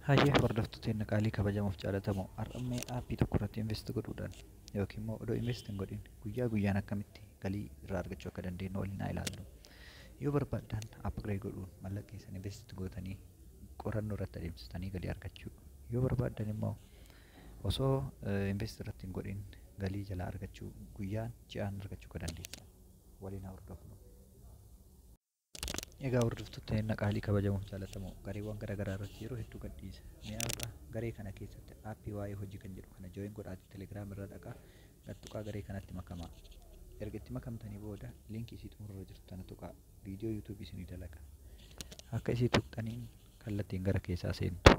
Hayyee hordoftuu teenna qaalii kabajamuuf jaalatamu har'ammee aappii tokko irratti invest godhuudhaan yookiin immoo odoo invest hin godhin guyyaa guyyaan akkamitti galii irraa argachuu akka dandeenyu waliin haa ilaallu. Yoo barbaaddan upgrade godhuun mallaqa keessan invest gootanii qorannoo irratti adeemsisanii galii argachuu. Yoo barbaaddan immoo osoo invest irratti hin godhin galii jalaa argachuu guyyaan ji'aan argachuu akka dandeessan waliin haa hordofnu. Egaa hordoftoota eenna qaalii kabajamuuf jaalatamoo gareewwan gara garaa irratti yeroo hedduu gadhiisa. Mee har'a garee kana keessatti aappii waa'ee hojii kan jedhu kana join godhaati telegram irra dhaqaa gad tuqaa garee kanatti makamaa. Erga itti makamtanii booda liinkii isii xumura irra jirtu tana tuqaa viidiyoo yuutuubii isinii dalaga. Akka isii tuqxaniin kallattiin gara keessaa seentu.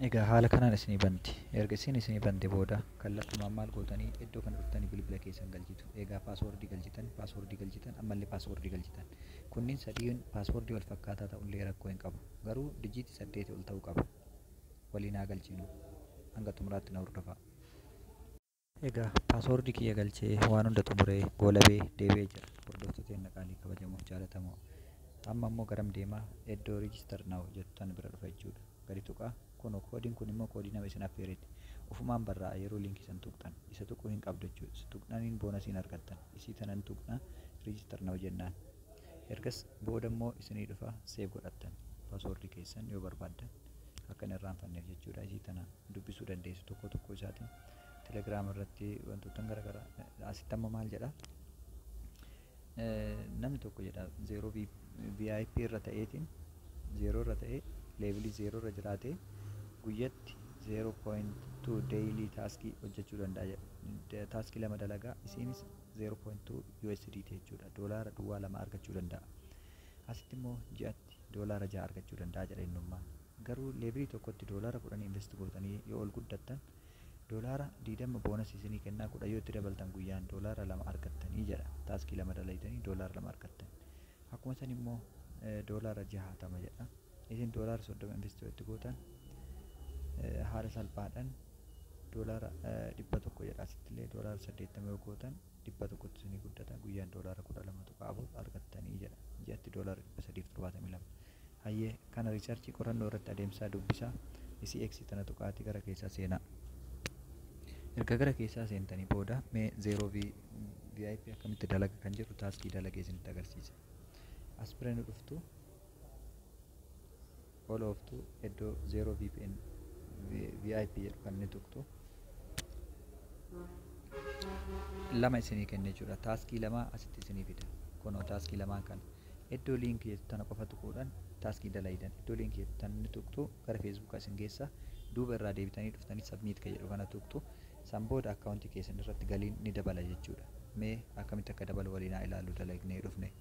Egaa haala kanaan isinii banti. Erga isiin isinii bante booda kallattumaan maal gootanii iddoo kana dhuftanii bilbila keessan galchitu. Egaa paaswoordii galchitan, paaswoordii galchitan, ammallee paaswoordii galchitan. Kunniin sadiin paaswoordii wal fakkaataa ta'ullee rakkoo hin qabu. Garuu dijiitii saddeetii ol ta'uu qaba. Waliin haa galchinu. Hanga xumuraatti na hordofaa. Egaa password kiyya galchee waan hunda xumuree goolabee deebi'ee jira hordoftoota keenna qaalii kabajamoo jaalatamoo amma immoo garam deemaa eddoo register now jettu tan bira dhufa jechuudha gadi tuqaa kuno koodiin kun immoo koodii nama isin affeereeti ufumaan barraa'a yeroo linkii san tuqxan isa tuquu hin qabdu jechuudha isa tuqnaniin boonasiin argattan isii tanan tuqna register now jennaan ergas booda immoo isinii dhufa save godhattan password keessan yoo barbaaddan akka hin irraanfanneef jechuudha isii tana dubbisuu dandeessu tokko tokko isaatiin Telegram irratti wantoottan garaagaraa asitti amma maal jedha namni tokko jedha zeeroo VIP irra ta'eetiin zeeroo irra ta'ee leevilii zeeroo irra jiraatee guyyatti 0.2 daily taaskii hojjechuu danda'a jedha taaskii lama dalagaa isiinis 0.2 USDT jechuudha doolaara duwwaa lama argachuu danda'a asitti immoo ji'atti doolaara ja'a argachuu danda'a jedha innummaan Garuu levelii tokkotti doolaara kudhan invest gootanii yoo ol guddattan doolaara digdama bonus isinii kennaa kudhan yoo itti dabaltan guyyaan doolaara lama argattanii jedha taskii lama dalaydanii doolaara lama argattan akkuma san immoo doolaara jahaatama jedha isin doolaara soddoma invest yoo itti gootan haala salphaadhan doolaara dhibba tokko jedha asittillee doolaara saddeettama yoo gootan dhibba tokkotti isinii guddata guyyaan doolaara kudha lama tuqaa afur argattanii jedha ji'atti doolaara dhibba sadiif torbaatamii lama Hayyee, kana riisarchii, qorannoo, irratti adeemsisaa dubbisaa. Isii X tana tuqaatii gara keessaa seenaa. Erga gara keessaa seentanii booda mee 0 V VIP akkamitti dalaga kan jedhu taaskii dalagee isinitti agarsiisa. As bira nu dhuftu ol ooftu iddoo 0 VPN VIP jedhu kan ni tuqxu. Lama isinii kenna jechuudha. Taaskii lama asitti isinii fida. Kunoo taaskii lamaan kana. Iddoo link jettu tana qofa tuquudhan taskii dalaydan. Iddoo link jettu tana ni tuqxu gara Facebook isin geessa. Duuba irraa deebitanii dhuftanii submit ka jedhu kana tuqxu. San booda account keessan irratti galiin ni dabala jechuudha. Mee akkamitti akka dabalu waliin haa ilaallu dalagnee dhufne.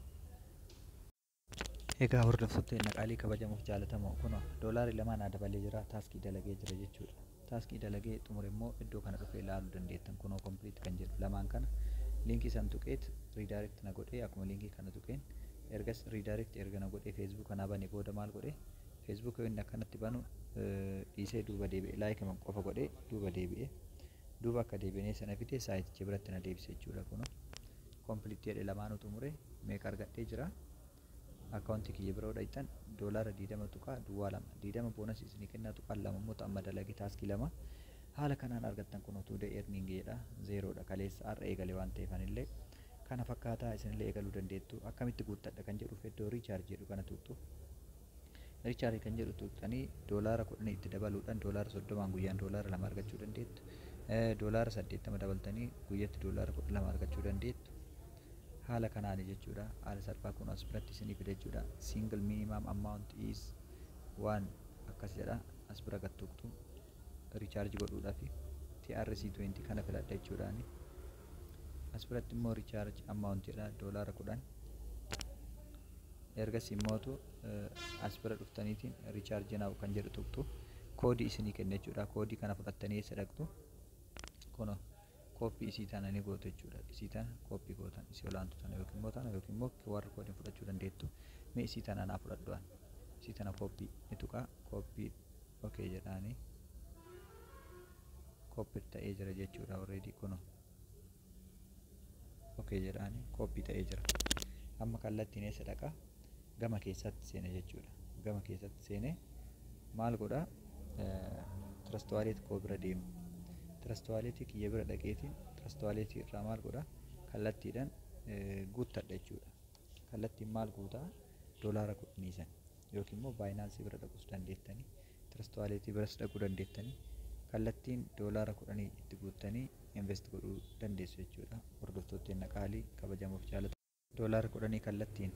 Egaa hordoftoota teenna qaalii kabajamoo fi jaalatamoo kunoo doolaarri lamaa naa dabalee jira taskii dalagee jira jechuudha. Task dalagee xumure immoo iddoo kana dhufee ilaaluu dandeettan kunoo complete kan jedhu lamaan kana link san tuqeet redirect na godhee akkuma link kana tuqeen ergas redirect erga na godhee facebook kana bane booda maal godhe facebook yoo inni akkanatti banu dhiisee duuba deebi'e like man qofa godhee duuba deebi'e duuba akka deebi'ee sana fidee saayiticha biratti na deebise jechuudha kunoo complete jedhe lamaanuu xumure meeqa argadhee jira Account kiyya bira yoo dhayxan dollar 20.22 20 bonus isinii kennaa tuqaan 2 immoo ta amma dalage task 2 haala kanaan argattan kunoo today earning jedha zero dha kaleessa har'a eegale waan ta'eef anillee kana fakkaataa isinillee eegaluu dandeettu akkamitti guuttadha kan jedhuuf iddoo recharge jedhu kana tuqxu Richaari kan jedhu tuqxanii doolaara kudhan itti dabaluudhaan doolaara soddomaan guyyaan doolaara lama argachuu dandeettu. Doolaara saddeettama dabaltanii guyyatti doolaara kudha lama argachuu dandeettu. Haala kanaani jechuudha haala salphaa kun as biratti isinii fida jechuudha single minimum amount is 1 akkas jedha as bira gad tuqtu recharge godhuudhafi TRC20 kana filadha jechuudhaani as biratti immoo recharge amount jedha doolaara 10 ergasii immootu as bira dhuftaniitiin recharge now kan jedhu tuqtu koodii isinii kenna jechuudha koodii kana fudhattanii eessa dhaqxu kuno copy isii tana ni gootu jechuudha isii tana copy gootan isii olaantu tana yookiin immoo tana yookiin immoo QR code fudhachuu dandeettu mee isii tana naa fudhadhu an isii tana copy ni tuqaa copy okay jedhaani copy ta'ee jira jechuudha already kuno okay jedhaani copy ta'ee jira amma kallattiin eessa dhaqa gama keessatti seena jechuudha. Gama keessatti seenee maal godha? Tirastuwaaleetii koo bira deema. Tirastuwaaleetii kiyya bira dhaqeetiin tirastuwaaleetii irraa maal godha? Kallattiidhaan guuttadha jechuudha. Kallattiin maal guutaa? Doolaara kudhanii san yookiin immoo baayinaansii bira dhaquus dandeettanii tirastuwaaleetii biras dhaquu dandeettanii kallattiin doolaara kudhanii itti guuttanii invest godhuu dandeessu jechuudha. Hordoftootteen qaalii kabajamoof jaalatamu. Doolaara kudhanii kallattiin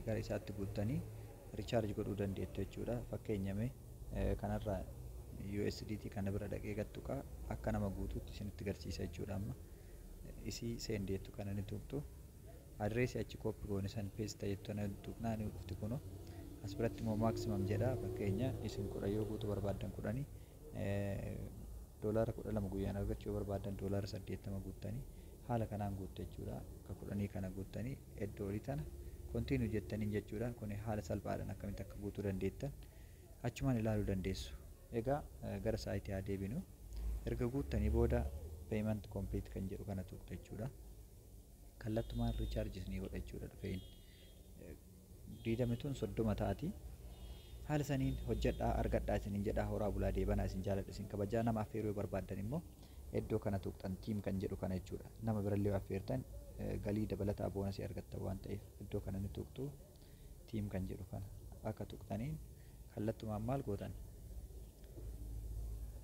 gara isaatti guuttanii recharge godhuu dandeettu jechuudha. Fakkeenya mee kanarraa USDT kana bira dhaqee gattuqaa akka nama guutuutti isinitti garsiisa jechuudha amma. Isii send jettu kana ni tuqxu. Adireesii achi kooppi goone san peesta jettu kana tuqnaa ni dhufti kuno. As biratti immoo maximum jedha fakkeenya isin kudha yoo guutuu barbaaddan kudhanii doolaara kudha lama guyyaan argachuu yoo barbaaddan doolaara saddeettama guuttanii haala kanaan guuttu jechuudha. Bakka kudhanii kana guuttanii iddoo olii tana Continue jettaniin jechuudha. Kuni haala salphaadhaan akkamitti akka guutuu dandeettan achumaan ilaaluu dandeessu. Egaa gara saayitii haa deebinu. Erga guuttanii booda Payment Complete kan jedhu kana tuqxu jechuudha. Kallattumaan Recharges ni godha jechuudha dhufee inni. 20 tun 30 taati. Haala saniin hojjadhaa argadhaa isiniin jedhaa horaa bulaa deebanaa isin jaaladha isin kabajaa nama affeeruu yoo barbaaddan immoo eddoo kana tuqxan team kan jedhu kana jechuudha nama birallee yoo affeertan galii dabalataa boonasii argattan waan ta'eef eddoo kana ni tuqxu team kan jedhu kana akka tuqxaniin kallattumaan maal gootan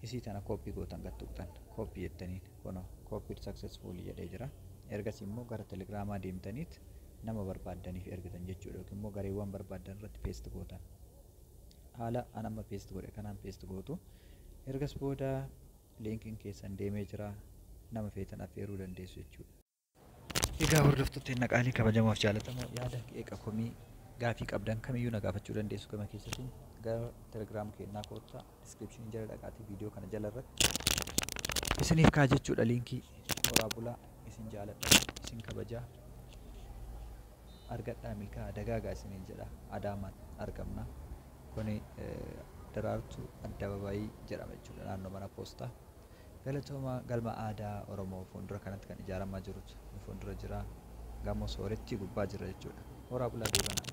isii tana kooppii gootan gad tuqxan kooppii jettaniin kunoo kooppii successful jedhee jira ergasii immoo gara telegiraamaa deemtaniit nama barbaaddaniif ergitan jechuudha yookiin immoo gareewwan barbaaddan irratti paste gootan haala an amma paste godhe kanaan paste gootu ergas booda linkiin keessan deemee jira nama feetan affeeruu dandeessu jechuudha. Egaa hordoftoota inni qaalii kabajamoof jaalatamoo yaada qeeqa komii gaafii qabdan kamiyyuu na gaafachuu dandeessu gama keessatti gara telegiraam keenyaa koottaa. description jala dhaqaatii video kana jala irratti isiniif kaa jechuudha linkii horaa bulaa isin jaaladha isin kabajaa argadhaa milkaa dagaagaa isiniin jedha adaamaan argamna kuni daraartuu addababayii jedhama jechuudha naannoo mana poostaa galatooma galma aadaa oromoo fuuldura kanatti kan ijaaramaa jirutu nu fuuldura jira gamoo soorettii gubbaa jira jechuudha horaa bulaa duubanaa